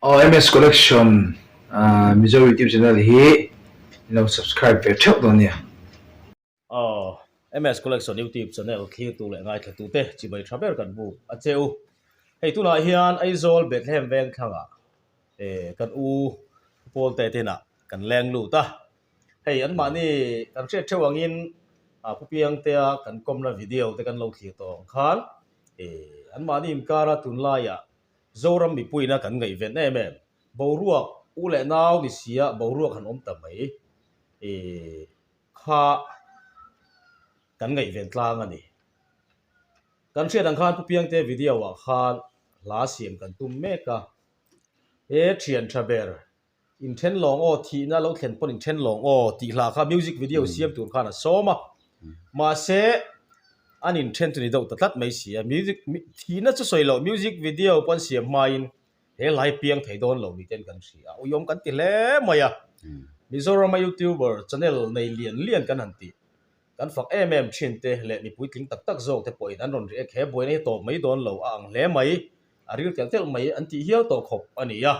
OMS Collection Mizo YouTube Channel hi i lo subscribe ve theuh dawn nia. OMS Collection YouTube Channel thlirtu leh ngaithlatute chibai tha ber kan bu a che u. Hei tunah hian Aizawl Bethlehem Vengthlanga kan u Paul te tinah kan leng lut a. Hei an mahni kan hriat theuh angin Pu Piang tea kan kawmna video te kan lo thlir tawh ang khan an mahni inkara tunlaiah Zoram mipuiin kan ngaihven em em. Boruak u leh nau ni sia boruak han awm ta mai i kha kan ngaihven tlang a ni. Kan hriat ang khan Pu Piangte video ah khan hla siam kan tum mek a. He thiantha ber In then lawng aw, thihna lo thlen pawn in then lawng aw tih hlah kha music video siam tur khan a sawm a. Mahse, an in then chu ni deuh ta tlat mai si a. Music, thihna chu sawi loh, music video pawh an siam hmain he lai piang thei dawn lo mite an kan hria a. Uiawm kan ti hle mai a. Mizorama YouTuber channel nei lian lian kan han ti. Kan fak em em thin te leh mipui tling tak tak zawk te pawhin an rawn ri ek he buaina hi tawp mai dawn lo a ang hle mai, a ril telh telh mai an tih hial tawh khawp a ni a,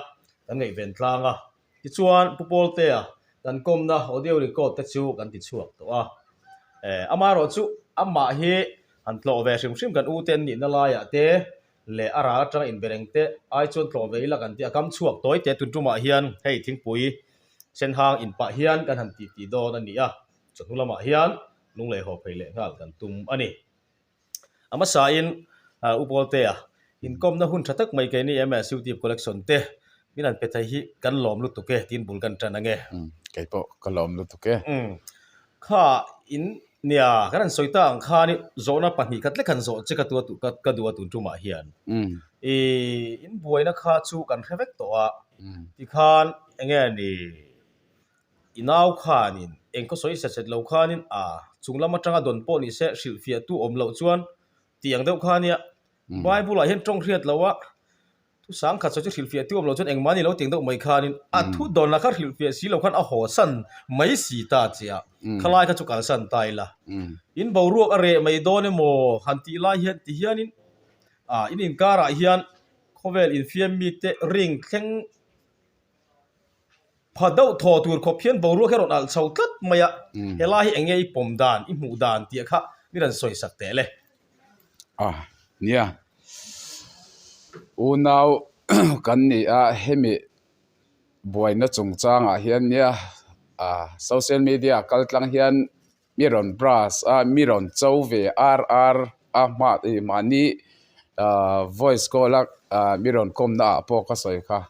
kan ngaihven tlang a. Tichuan Pu Pawltea kan kawmna audio record te chu kan ti chhuak tawh a, eh amaherawh chu amah hi han tlawh ve hrim hrim kan uten nihna laiah te leh a ral atanga inbereng te ai chuan tlawh ve ila kan ti a, kam chhuak tawi te tuntumah hian hei thingpui senhang in pah hian kan han titi dawn a ni a. Chu hnu lamah hian lung leh haw phei leh nghal kan tum a ni. A hmasain U Pawltea inkawmna hun tha tak mai kei ni emaw Youtube collection te min an pe thei hi kan lawm lutuk e tiin bul kan tan ang e. Kei pawh ka lawm lutuk e. Kha in nia kan han sawi ta ang khan i zawhna pahnih ka tlek han zawh che ka tua ka ka duh a tun tumah hian i in buaina kha chu kan hre vek tawh a tikhan enge ni. I nau khanin eng ka sawi set set lo khanin aa chung lam atanga dawn pawh ni se hrilh fiah tu awm loh chuan tih ang deuh kha nia. Bible ah hian tawng hriat lo a thu sang khat sawi chu hrilh fiah tu awm lo chuan eng mahni lo ti ang deuh mai khanin a thu dawn lah kha hrilh fiah si lo khan a haw san mai si ta che a, khalai kha chu kan san ta ila in boruak a reh mai dawn emaw han tih lai hian ti hian in aa in inkar ah hian khawvel infiam mi te ring thleng Pha deuh thaw tur khawp hian boruak hi a rawn alh chho tlat mai a, he lai hi enge i pawm dan, i hmuh dan tih kha min rawn sawisak teh le. A nia, unau kan nih a hemi buaina chungchangah hian nia social media kaltlang hian. mi rawn brush a mi rawn cho ve ar ar a hmah ih mahni ah voice call a ah mi rawn kawmna ah pawh ka sawi kha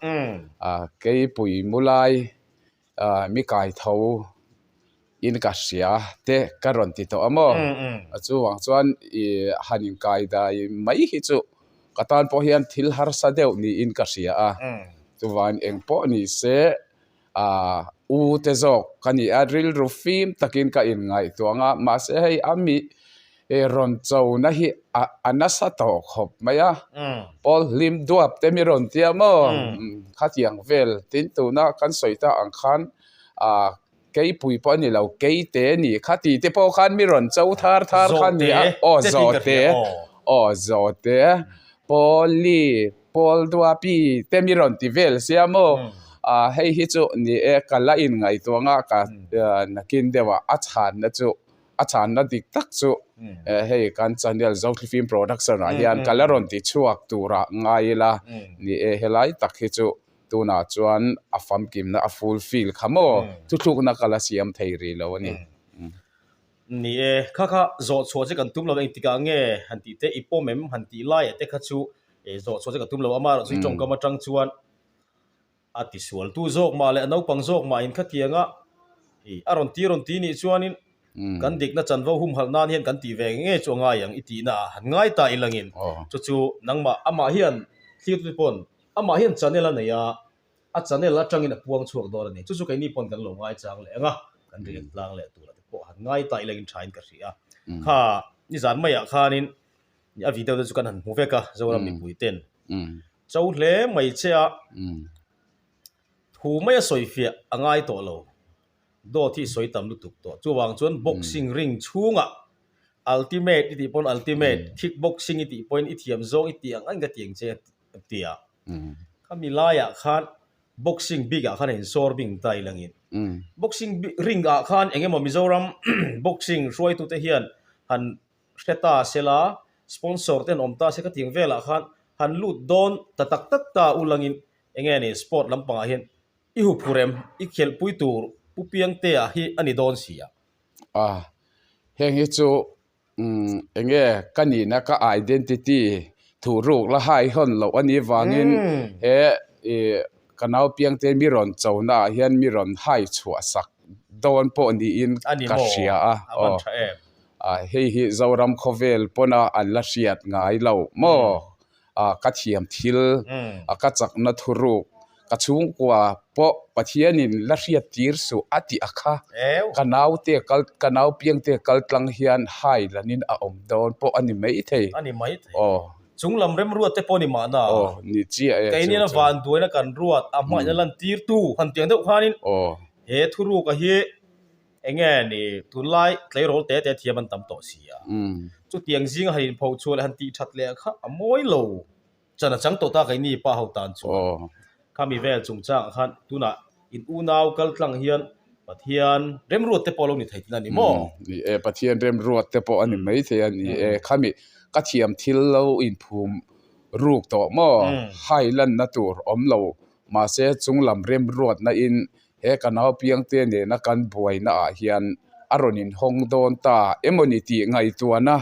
ah keipui mulai ah mi kai tho in ka hria te ka rawn ti tawh a maw a chungah chuan ih han inkai dai mai hi chu ka tan pawh hian thil harsa deuh niin ka hria a chuvain engpawh ni se Aaa u te zawk ka nih a rilru fim takin ka in ngaihtuang a, mahse hei a mi rawn chona hi a nasa tawh khawp mai a, Paul hlim duap te mi rawn tia maw? Khatiang vel tin tuna kan sawi ta ang khan aaa keipui pawh a ni lo, keite a ni, khati te pawh khan mi rawn cho thar thar kha a ni a, aw zawhte, aw zawhte, Paul-i. Pawl Duapi te mi rawn ti vel sia maw? Aaa hei hi chu ni e, ka la inngaihtuah a, ka nakin deuhah a chhanna chu, a chhanna dik tak chu hei kan channel Zothli Film Production ah hian ka la rawn ti chhuak turah ngai ila ni e, helai tak hi chu tunah chuan a famkimna a fulfill kha maw? Thuthlukna ka la siam thei rih lo a ni. Ni e, kha kha, zawh chhuah che kan tum lo eng tikah nge han tih te? I pawm em? han tih laiah te kha chu e, zawh chhuah che ka tum lo, ama erawh chu i tawngkam atang chuan a tisualtu zawk mah leh a naupang zawk mahin kha tianga e, a rawn ti rawn ti nih chuanin kan dikna chanvo humhalh nan hian kan tih ve nge nge chu a ngai ang, i tihna ah han ngai ta ilangin chu chu nangmah amah hian thlir te pawn amah hian channel a nei a. A chanel atangin a puang chhuak dawn a ni. Chu chu keini pawn kan lo ngaichang leh ang a, kan ri en tlang leh tur te pawh han ngai tai lengin thain ka hria. Kha nizan maiah khanin a video te chu kan han hmu vek a, Zoram mipui ten chau hle mai che a, thu mai a sawi fiah a ngai tawh lo. Dawt hi sawi tam lutuk tawh. Chuvang chuan boxing ring chhungah ultimate i tih pawn ultimate, kickboxing i tih pawhin i thiam zawng i tih ang a, engka tiang che? a ti a. Kha milai ah khan boxing bik ah khan a in sawr bing ta i langin boxing ring ah khan eng emaw Mizoram boxing hruai tu te hian han hre ta se la, sponsor te an awm ta se kha tiang vel ah khan han lut dawn ta tak tak ta u langin eng nge ni sport lam pang ah hian i huphu rem i khelh pui tur Pu Piangtea hi a ni dawn si a. Heng hi chu Enge ka nihna ka identity thuh ruk la hai hawn loh a nih vangin he ka naupiang te mi rawn cho na ah hian mi rawn hai chhuah sak dawn pawh niin ka hria a hei hi Zoram khawvel pawn a an la hriat ngai lo maw. a ka thiam thil a ka chak na thuruk ka chhung kua pawh Pathian in la hriat tir suh a tih a kha ka nau te kal ka nau piang te kal tlang hian hai lan in a awm dawn pawh a ni mai thei a ni mai thei aw chung lam rem ruat te pawh ni mahna aw ni chiah e kei nena van duai na kan ruat a hmai na lan tir tu han tiang deuh khan in aw he thuruk a hi Enge ni, tunlai tleirawl te te thiam an tam tawh si a, chutiang zing han inpho chhuah leh han tihthat leh kha a mawi lo chan a chang tawh ta keini pa ho tan chuan. Khami vel chung changah khan tunah in unau kal tlang hian Pathian remruat te pawh lo ni thei tina ni maw? Ni e, Pathian remruat te pawh a ni maithei a ni e. Khami ka thiam thil lo inphum ruk tawh maw? Hailanna tur awm lo, mahse chunglam remruatna in he ka naupiang te nena kan buainaah hian a rawn inhawng dawn ta emaw ni tih ngaihtuahna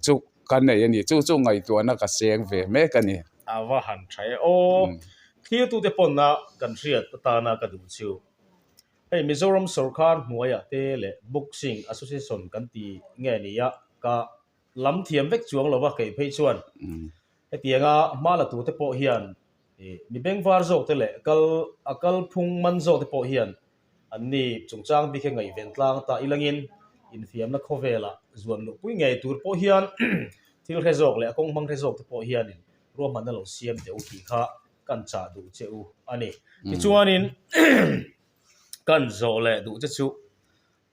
chu ka nei a ni. Chu chu ngaihtuahna ka seng ve mek a ni. A va han tha e. Aw, thlir tute pawnna kan hriat atana ka duh chu. Hei Mizoram sorkar hnuaiah te leh Boxing Association kan ti nge nia ka lam thiam vek chuang lo va keih phei chuan hetiang a hma la tu te pawh hian mi beng var zawk te leh kal a kal phung man zawk te pawh hian an ni chungchang bik e ngaih ven tlang ta ilang in infiam na khawvel ah zuan luh pui ngei tur pawh hian thil hre zawk leh a kawng hmang hre zawk te pawh hian in ruahman na lo siam teh u tih kha kan chah duh che u a ni tichuan in kan zawh leh duh che chu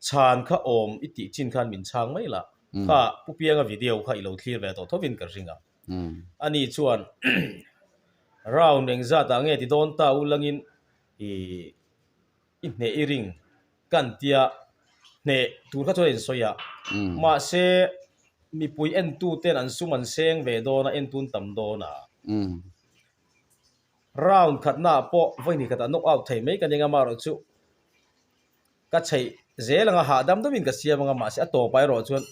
Chhan kha awm i tih chin khan min chhang mai la, kha Pu Pianga video kha i lo thlir ve tawh tho in ka ring a. Ani chuan, Round eng zat ah nge ti dawn ta u langin i i hneh i ring kan tia hneh tur kha chuan a insawi a. Mahse, mipui entu ten an sum an seng ve dawn a, entun tam dawn a. Round khatna ah pawh vawiin hnikhat a knock out thei mai ka ning a, mah erawh chu. ka chheih zel anga hahdam dawmin ka siam anga mahse a tawpai erawh chuan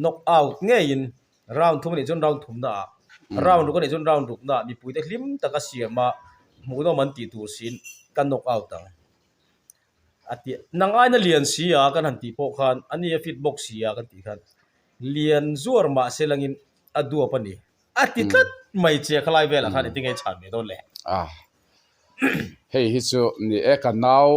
knock out ngeiin round thum anih chuan round thumna ah round ruk anih chuan round rukna ah mipuite hlim tak a siam a hmuhnawm an tih tur siin ka knock out ang a ti a, nang aina lian si a kan han tih pawh khan a nia fit bawk si a kan tih khan lian zuar mahse langin a duap a ni a ti tlat mai che a khalai velah khan engtin nge a chhan ve dawn le. Hei hi chu ni e ka nau.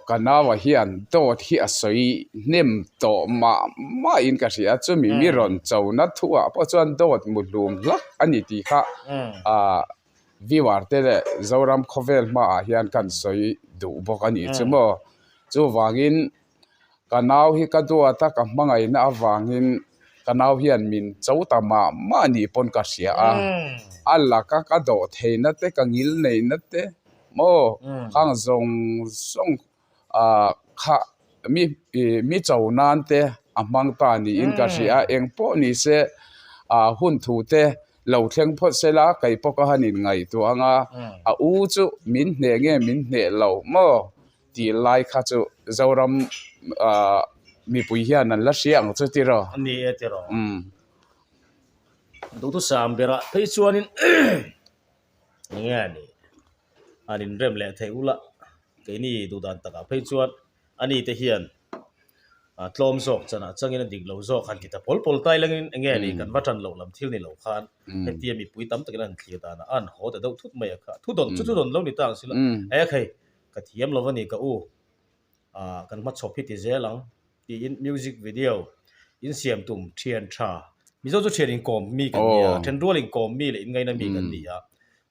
ka nau ah hian dawt hi a sawi hnem tawh mah mah in ka hria chumi mi rawn cho na thu ah pawh chuan dawt mu hlum hlak a ni tih kha ah viewer te leh Zoram khawvel hma ah hian kan sawi duh bawk a ni chu maw chu vang in. Ka nau hi ka duat a, ka hmangaihna avangin ka nau hian min chauta mah mah nih pawn ka hria a. A laka ka dawh theihna te, ka ngil neihna te maw khang zawng zawng kha mi cho nan te a hmang ta niin ka hria a. Eng pawh ni se hun thu te lo thleng phawt se la, kei pawh ka han inngaihtuah ang a, a u chu min hneh nge min hneh lo maw? Tih lai kha chu Zoram mipui hian an la hria ang chu tiraw? A ni e tiraw? Umm. Duhthusam berah phei chuanin Enge a nih? An inrem leh theih ula, keini duhdan takah phei chuan a ni te hian tlawm zawk chanah changin a dik lo zawk han ti ta pawl pawl tai langin enge a nih? Kan va tan loh lam thil ni lo khan hetia mipui tam takin an thlir dan a, a an haw ta deuh thut mai a kha. Thudawn chu thudawn lo ni ta ang silo. Ehk hei, Ka thiam lo va ni ka u, aah kan hmachhawp hi ti zel ang, tiin music video in siam tum thian tha. Mizo chu thian inkawm mi kan ni a, then rual inkawm mi leh inngaina mi kan ni a,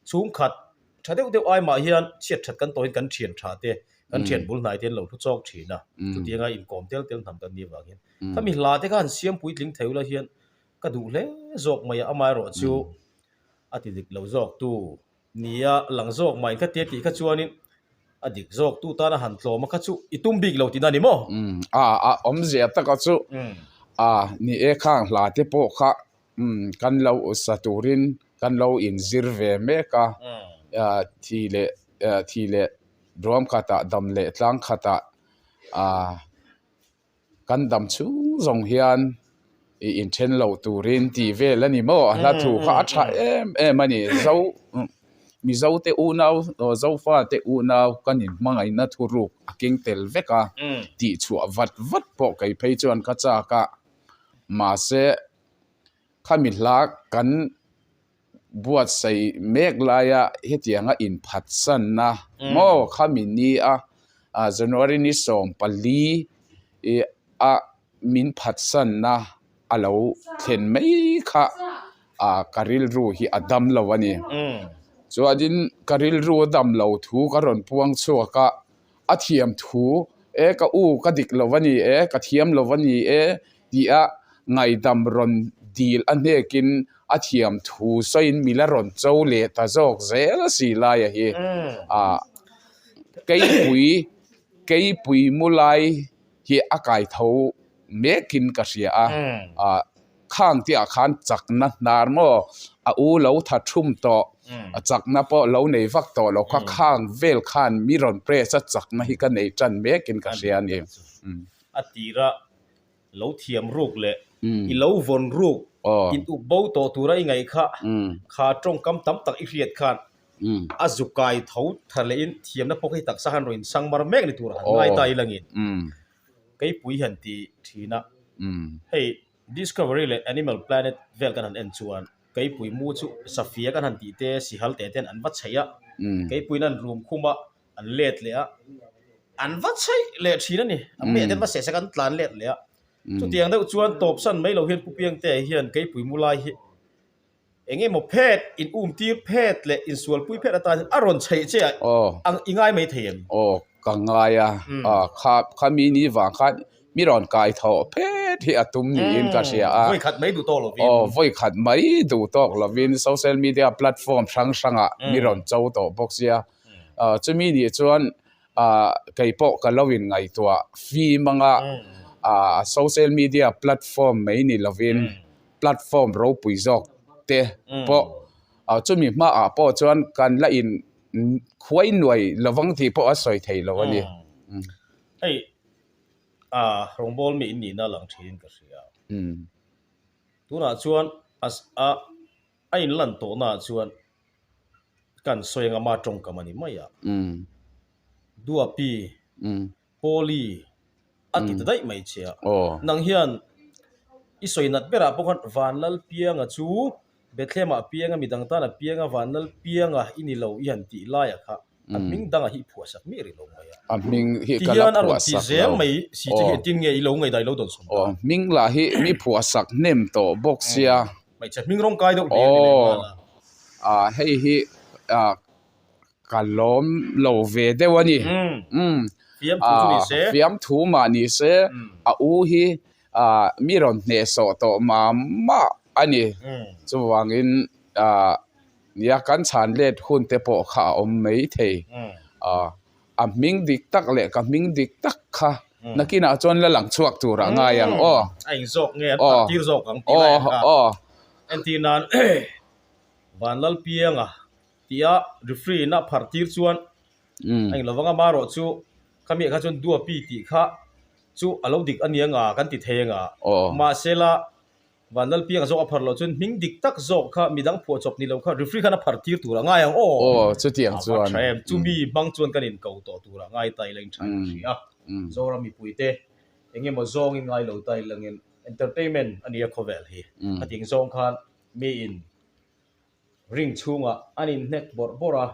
chhungkhat tha deuh deuh ai mah hian chhiat that kan tawhin kan thian tha te, kan thian bul hnai te an lo hlu chawk thin a, chutianga inkawm tel tel hnam kan ni avang hian khami hla te khan siam puitling theu la hian ka duh hle zawk mai a, amah erawh chu a ti dik lo zawk tu. Ni a lang zawk mai kha tia tih kha chuanin a dik zawk tu tana han tlawma kha chu i tum bik lo tina ni maw? Um, a a awmzia taka chu a ni e, khang hla te pawh kha um kan lo usa turin kan lo inzir ve mek a, thi leh thi leh duam khatah dam leh tlang khatah a Kan dam chhung zawng hian i inthen lo turin ti vel a ni maw? A hla thu kha a tha em em a ni. Zo, Mizo te unau, Zofa te unau kan inhmangaihna thuruk a keng tel vek a, tih chhuah vat vat pawh kei phei chuan ka chak a. Mahse, kha mi hla kan. buatsaih mek laia hetiang a inphatsanna maw kha min ni a, January ni sawm pali a min phatsanna a lo thlen mai kha ka rilru hi a dam lo a ni. Chuanin ka rilru a dam lo thu ka rawn puang chhuak a, a thiam thu e ka u ka dik lo va ni e, ka thiam lo va ni e tia ngaidam rawn dil a hnekin a thiam thu sawiin mi la rawn cho leh ta zawk zel a si lai a hi a keipui keipui mulai hi a kai tho mekin ka hria a a. Khang tih ah khan chak na hnar maw a u lo tha thum tawh a chak na pawh lo nei vak tawh lo kha khang vel khan mi rawn press a chak na hi ka nei tan mek in ka hria ni a tir a lo thiam ruk leh i lo vawn ruk in uk bo tawh tur a i ngaih kha kha tawngkam tam tak i hriat khan a zu kai tho tha leh in thiam na pawk hi taksa han rawn in sang mar mek ni tur han ngai ta i lang in. Keipui han ti thin a, hei Discovery leh Animal Planet vel kan han en chuan Keipui mu chu Safia kan han tih te Sihal teh ten an va chhei a, Keipuiin an rum khum a, an let leh a, an va chhei leh thin a ni, an meh ten va seh sek a, an tlan let leh a, chutiang deuh chuan tawpsan mai lo hian Pu Piangtea hian Keipui mu lai hi, Eng emaw phet in um tir phet leh in sual pui phet atanin a rawn chheih che ah ang i ngai mai thei em? Aw ka ngai a, kha khami ni vang khan mi rawn kai tho phet hi a tum niin ka hria a, vawikhat mai duh tawk lovin, aw vawikhat mai duh tawk lovin social media platform hrang hrangah mi rawn cho tawh bawk sia, chumi nih chuan. ah kei pawh ka lo in ngaihtuah fim ang a ah social media platform mai ni lovin platform ropui zawk te pawh ah chumi hma ah pawh chuan kan la in khuai nuai lovang tih pawh a sawi thei lo a ni hei ah rawngbawl mi in nihna lang thin in ka hria tunah chuan a a in lan tawh na ah chuan Kan sawi anga ma tawngkam a ni mai a. Duapi, Pawli a ti ta daih mai che a. Nang hian i sawi nat berah pawh khan van lal pianga chu Bethlehema pianga midang tana pianga van lal pianga i ni lo i han tih laiah kha a hming dangah hi i phuahsak miah rih lo mai a, a hming hi ka la phuahsak lo, ti hian a rawn ti zel mai si che hian tin nge i lo ngaidai lo dawn sawm ta, aw hming lah hi mi phuahsak hnem tawh bawk sia, hmeichhe hming rawng kai deuh hmel ni lem a, aw hei hi ka lawm lo ve deuh a ni, fiam thu mah ni se a u hi mi rawn hnehsawh tawh mah mah a ni, chuvangin. Nia kan chhan let hun te pawh kha a awm mai thei a, a hming dik tak leh ka hming dik tak kha nakinah chuan la lang chhuak tur a ngai ang aw. A inzawk nge an tak tir zawk ang tih lai ang ka. Entir nan Van Lalpiang a tih a referee in a phar tir chuan a eng lo vang a mah rawh chu ka meh kha chuan Duapi tih kha chu a lo dik a nia nga kan ti thei ang a mahse la Van lal pianga zawk a phar loh chuan hming dik tak zawk kha midang phuah chawp ni loh kha referee khan a phar tir tur a ngai ang aw. Aw chutiang chuan. Ava tha em, chumi hmang chuan kan in ko tawh tur a ngai ta ila in tha em a hria. Zoram mipui te eng emaw zawngin ngai lo ta ila ngin entertainment a nia khawvel hi. Hetiang zawng khan mi in. Ring chhungah an inhnek bawrh bawrh a,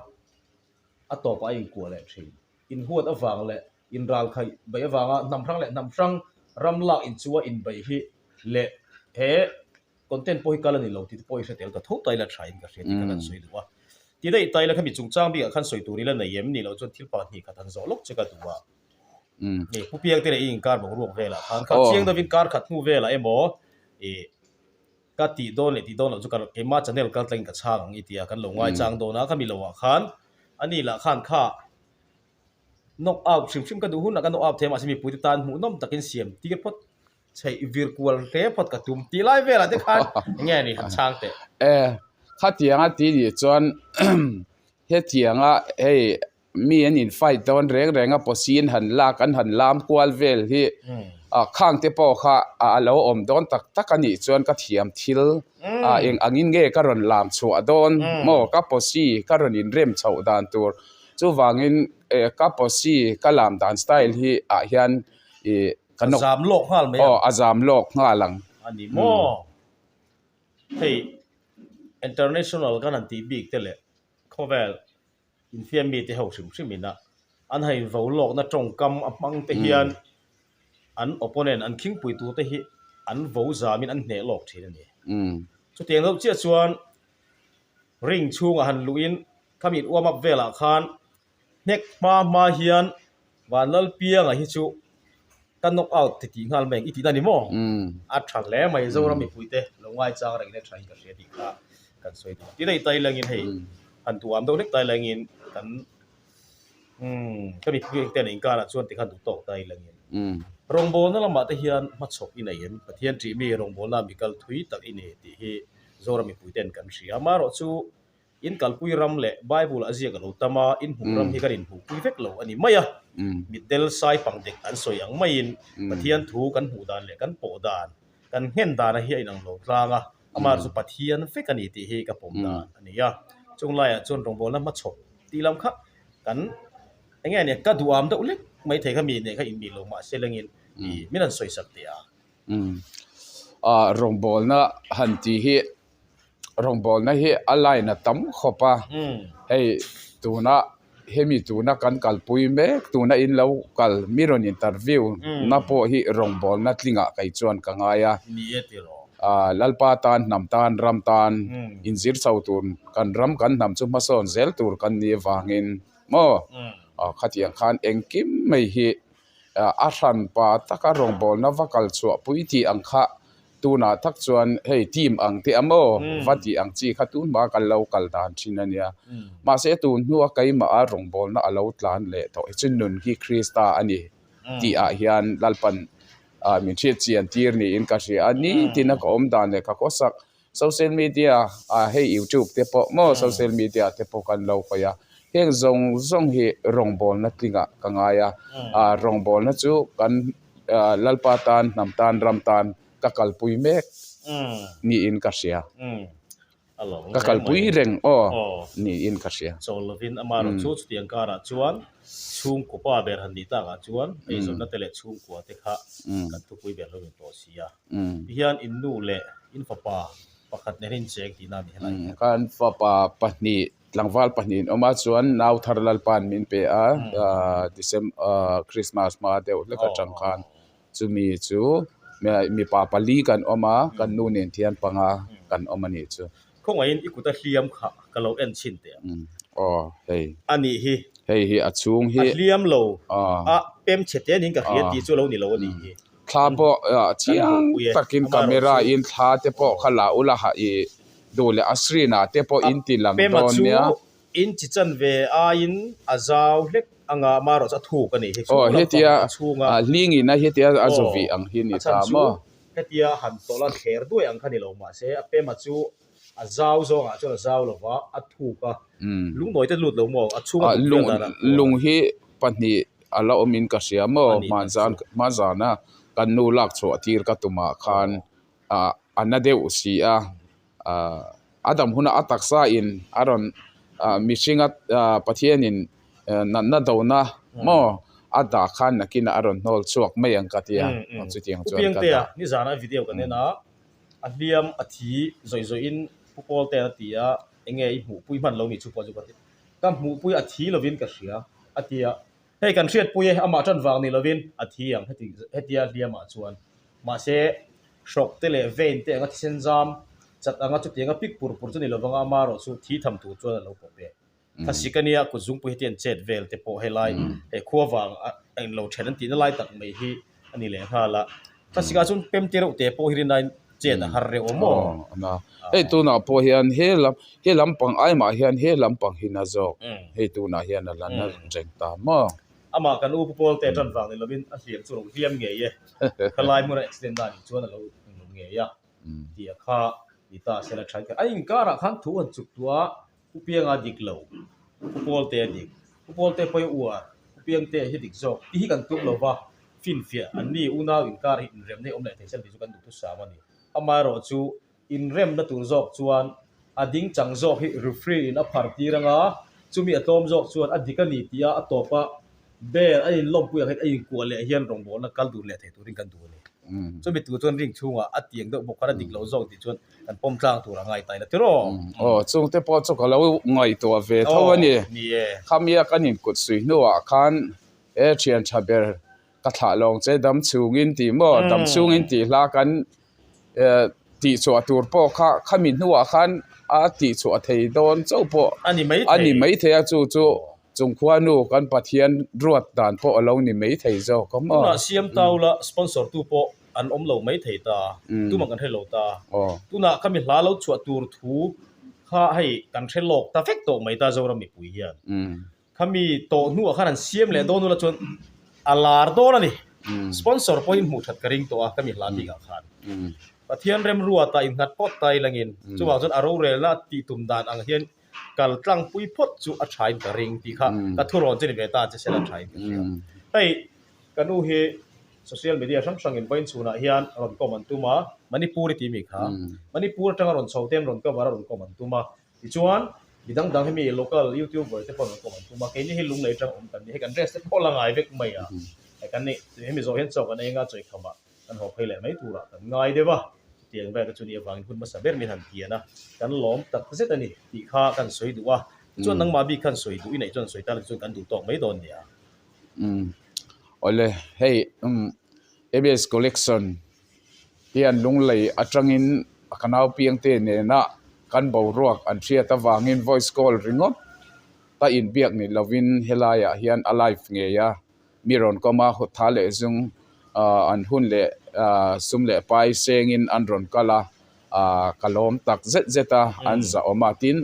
a tawp a inkuah leh thin. Inhuat avang leh inral khaih beih avanga hnamhrang leh hnamhrang ram lak in chu a inbeih hi leh he content pawh hi kal a ni lo tih te pawh i hre tel ta tho ta ila thain ka hria tih khan an sawi duh a. Ti daih ta ila khami chungchang bikah khan sawi tur ila nei em? Nih loh chuan thil pakhat hnih khat han zawh lawk che ka duh a. Ni, Pu Piangte leh i inkar boruak velah khan kha chiang deuhin kar khat hnu velah emaw i. ka tih dawn leh tih dawn loh chu ka rawh, keimah channel kal tlangin ka chhang ang i tia kan lo ngaichang dawn a, ka mi lohah khan a ni lah khan kha knock out hrim hrim ka duh hunah ka knock out thei a, mahse mipuite tan hmuh nawm takin siam tir phawt chei vir kual hle phawt ka tum, tih lai velah te khan enge ni han chhang teh. E, khatianga tih nih chuan hetianga hei mi an in fight dawn reng reng a pawh si an han lak an han lam kual vel hi khang te pawh kha a lo awm dawn tak tak a nih chuan ka thiam thil a eng ang in nge ka rawn lam chhuah dawn maw ka pawh si ka rawn in rem chhoh dan tur chuvang in ka pawh si ka lam dan style hi ah hian ih ka nawk zam lawk nghal mai ang a zam lawk nghal ang a ni maw hei international kan han tih bik te leh khawvel Inthiam mite ho hrim hrim in a an ha in volawkna tawngkam a hmang te hian an opponent an khingpui tur te hi an vo zam in an hneh lawk thin a ni. Chutiang deuh chiah chuan ring chhung ah han luh in khami in warm up vel ah khan hnek hma hma hian Vanlalpianga hi chu Ka knock out ti tih nghal mai ang i ti ta ni maw? A tha hle mai Zoram mipui te lo ngai chang reng le thain ka hria tih kha kan sawi ta. Tilei Tailang in hei han duham deuh hlek Tailang in kan ka mipui engte an inkal ah chuan tikhan duh tawk Tailang in rawngbawlna lamah te hian hma chhawp i nei em? Pathian tih mi rawngbawlna mi kal thui tak i ni tih hi Zoram mipui ten kan hria. Amaherawh chu In kalpui ram leh Bible a ziak a lo tam a, in hmuh ram hi kan inhmuhpui vek lo a ni mai a. Mitdel sai pang dek kan sawi ang maiin Pathian thu kan hmuh dan leh kan pawh dan, kan nghen danah hi a inang lo tlang a, amaherawh chu Pathian vek a ni tih hi ka pawm dan a ni a. Chung laiah chuan rawngbawlna hmachhaw tih lam kha kan enge a nia, ka duham deuh lek mai thei kha mi hneh kha in mi lo mah se lengin min han sawisak teh a. Rawngbawlna han tih hi rawngbawlna hi a line a tam khawp a hei tuna hemi tuna kan kalpui mek tuna in lo kal mi rawn interview na pawh hi rawngbawlna tlingah kei chuan ka ngai a ah Lalpa tan hnam tan ram tan in zir chho tur kan ram kan hnam chu hmasawn zel tur kan nih avangin maw khatiang khan engkim mai hi. a hran pa taka rawngbawlna va kal chhuah pui tih ang kha tunah tak chuan hei team ang teh ang aw va tih ang chi kha tun hma kan lo kal dan thin a nia. Mahse tun hnua keimah a rawngbawlna a lo tlan leh tawh hi chu nun hi Krista a ni tih ah hian Lalpan ah min hriatchian tir niin ka hria a, nitin a ka awm dan leh ka khawsak Social media ah hei youtube te pawh maw social media te pawh kan lo hawi a, heng zawng zawng hi rawngbawlna tlingah ka ngai a, rawngbawlna chu kan Lalpa tan, hnam tan, ram tan ka kalpui mek niin ka hria, ka kalpui reng aw niin ka hria. Chaw lovin amah rawn chu chuti an karah chuan chhungkaw pa ber han ni takah chuan eizawnna te leh chhungkua te kha kan thupui ber hlauhin tawh si a. hian in nu leh in fapa pakhat nen in cheng tihna a ni hela hian. Ka in fapa pahnih tlangval pahnih an awm a chuan nau thar lalpa an min pe a December Christmas hma deuh hlek atang khan chumi chu mipa pali kan awm a kan nu nen thiam panga kan awm a nih chu. Khawngaih in i kuta hliam kha ka lo en chhin teh ang. Aw hei. A nih hi. Hei hi a chhung hi. A hliam lo a pem chhe te nen ka hria tih chu a lo ni lo a nih hi. Thla pawh chiang takin camera in thla te pawh kha la ula ha i duh leh a screen ah te pawh in ti lang dawn nia. A pema chu in chi chan ve aiin a zau hlek anga mah erawh chu a thuk a nih hi chu lam pang a chhung a. Aw a chhan chu hetia han tawlh a thler duai ang kha ni lo mahse a pema chu A zau zawngah chuan a zau lo va, a thuk a. Lungnawi te lut lo maw? A chhung a dum vel dan ah khuaah. Lung hi pahnih a la awmin ka hria maw? Hmanzana kan nu lak chhuah tir ka tum ah khan a na deuh si a. A dam hunah a taksa in a rawn mihringa Pathianin natna dona maw a dah khan nakinah a rawn hnawl chhuak mai ang ka ti a. Chutiang chuan ka dah. Khupiangtea nizanah video kan en a. A hliam a thi zawih zawih in Pu Pawl ten a ti a, enge i hmuhpui hman lo nih chu pawh chu ka ti. Ka hmuhpui a thi lo in ka hria a ti a, hei kan hriatpui e, amah tan vang nih lo in a thi ang heti a hliam ah chuan. Mahse hrok te leh vein te anga thisen zam chat anga chuti anga pik pur pur chu ni lovang a, ama erawh chu thi tham tur chuan a lo pawh pek. Thlasik a nia, kut zungpui heti an chet vel te pawh helai he khua vang a en lo then an tihna lai tak mai hi a ni leh nghal a. Thlasik ah chuan pemti reuh te pawh hi rin aiin chet a har reuh a maw? Hei tunah pawh hian he lam he lam pang ai mah hian he lam pang hi na zawk hei tunah hian a la na reng ta maw? Amah kan upa pawl te tan vang ni lo in a hliam chu a lo hliam ngei e. Kha lai hmuna accident dan in chuan a lo inrum ngei a. Tih a kha ni ta a sial a tha in kha. A inkar ah khan thu an chuk tu a, Khupianga dik lo, khupawlte dik, khupawlte pawi uar, khupiangte hi dik zawk ti hi kan tluk lo va, finfiah an ni unau inkar hi inremna hi awm leh thei chan tih chu kan duh thusam a ni. Amaherawh chu, inremna tur zawk chuan a ding chang zawk hi referee in a phar tir anga, chumi a tlawm zawk chuan a dik a ni tia a tawp a, ber a inlawmpui ang hian a inkuah leh hian rawngbawlna kal dur leh thei turin kan duh a ni. Chumi tur chuan ring chhungah a tiang deuh bawk khan a dik lo zawk tih chuan kan pawm tlang tur a ngai ta ila tir aw, aw chungte pawh chu ka lo ngaihtuah ve tho a ni, khamiak an inkut sui hnuah khan he thian tha ber ka thlah lawng che dam chungin tih maw dam chungin tih hla kan tihchhuah tur pawh kha khami hnuah khan a tihchhuah thei dawn chauh pawh a ni mai thei, a ni mai thei a chu chu chungkhua nu kan Pathian ruat dan pawh a lo ni mai thei zawk awm aw. Tunah Siam Tau la sponsor tu pawh an awm lo mai thei ta, tu man kan hre lo ta, tunah kami hla lo chhuah tur thu kha hei kan hre lawk ta vek tawh mai ta Zoram mipui hian. Kami tawh hnu ah khan an siam leh dawn ula chuan a lar dawn a ni. Sponsor pawhin hmuh that ka ring tawh a kami hla dingah khan. Pathian remruata innghat pawt ta i langin chuvang chuan a rorelna tih tum dan ang hian kal tlangpui phawt chu a thain ka ring tih kha ka thu rawn che ni ve tan che sela thain ka hria hei ka nu hi social media hrang hrang in vawiin chhunah hian rawn comment an tum a manipuri tih mi kha manipur atanga rawn chho te an rawn cover a rawn comment an tum a tichuan mi dang dang hemi local youtuber te pawh an rawn comment an tum a keini hi lunglei atang awm kan ni hei kan dress te pawh la ngai vek mai a kan nih hemi zawh hian chawk an eng a chawihkham ah kan haw phei leh mai turah kan ngai deuh a, chutiang in Bible-a chuan i avangin hun hmasa ber min han ti an a, kan lawm tak zet a ni tih kha kan sawi duh a, tichuan nangmah bik khan sawi duh inei chuan sawi tan tichuan kan duh tawk mai dawn nia. Umm awle hei umm abs collection hian lunglei atangin ka naupiang te nena kan boruak an hriat avangin voice call ringawt a inbiak nih lovin helaiah hian a live ngei a, Mi rawn kawm a, huttha leh zung an hun leh sum leh pai sengin an rawn kal a, ka lawm tak zet zet a, an zahawm a, tin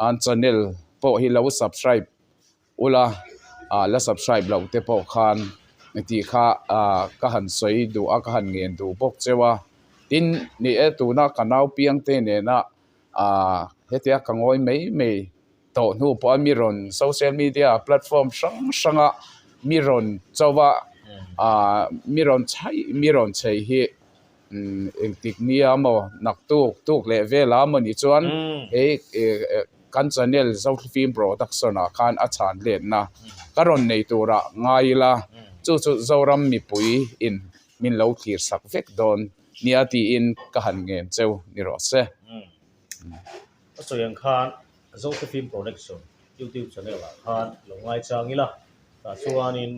an channel pawh hi lo subscribe ula la subscribe loh te pawh khan mi tih kha ka han sawi duh a, ka han ngen duh bawk cheu a, tin ni e tuna ka naupiang te nena hetia ka ngawi mai mai. tawh hnu pawha mi rawn social media platform hrang hranga mi rawn chau a aah mi rawn chhaih mi rawn chei hi engtik nia maw naktuk tuk leh vela maw ni chuan he kan channel Zohli film production ah khan a chhanlenna ka rawn nei tura ngai ila chu chu Zoram mipui in min lo thlir sak vek dawn nia tiin ka han ngen cheu ni rawh se. A sawi ang khan Josephine Production YouTube channel ah khan lo ngai chang ila, tah chuanin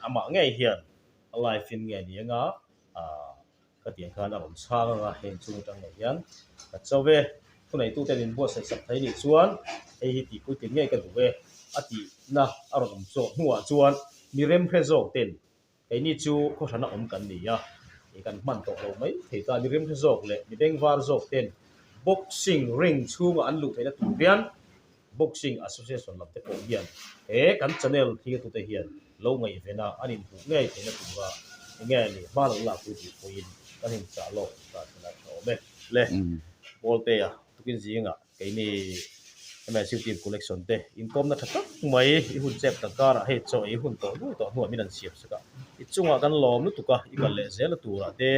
amah ngei hian a live in nge ni anga ka ti ang khan a rawn chhang anga heng chung atang lo hian ka chau e, khuneitu ten in buatsaih sak thei nih chuan hei hi tih puitlin ngei ka duh e a tihna a rawn awm zawk hnuah chuan mi remhre zawk ten Kei ni chu khawhran a awm kan ni a, i kan hman tawh lo mai thei ta ni. Rimhri zawk leh mi bengvar zawk ten boxing ring chhunga an luh theihna tur hian boxing association lam te pawh hian he kan channel hi tu te hian lo ngaihvena an in buh ngei theihna tura enge a nih hma lo lak pui tih pawhin kan in chah lawk ta thin a tha awm e. Le bawltea tukin zingah. Keini Emancipative Collection te inkawmna tha tak mai i hun chep tak karah hei chaw ei hun tawh duh tawh hnuah min han siam sak a, i chungah kan lawm lutuk a, i kal leh zel a turah te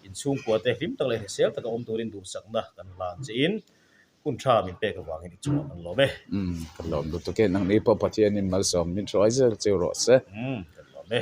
inchhungkua te hlim tak leh hrisel taka awm turin duhsakna kan hlan chein hun tha min pek avangin i chungah kan lawm e. Umm, ka lawm lutuk e, nangni pawh Pathianin malsawm min hruai zel chu rawh se. Umm, ka lawm e.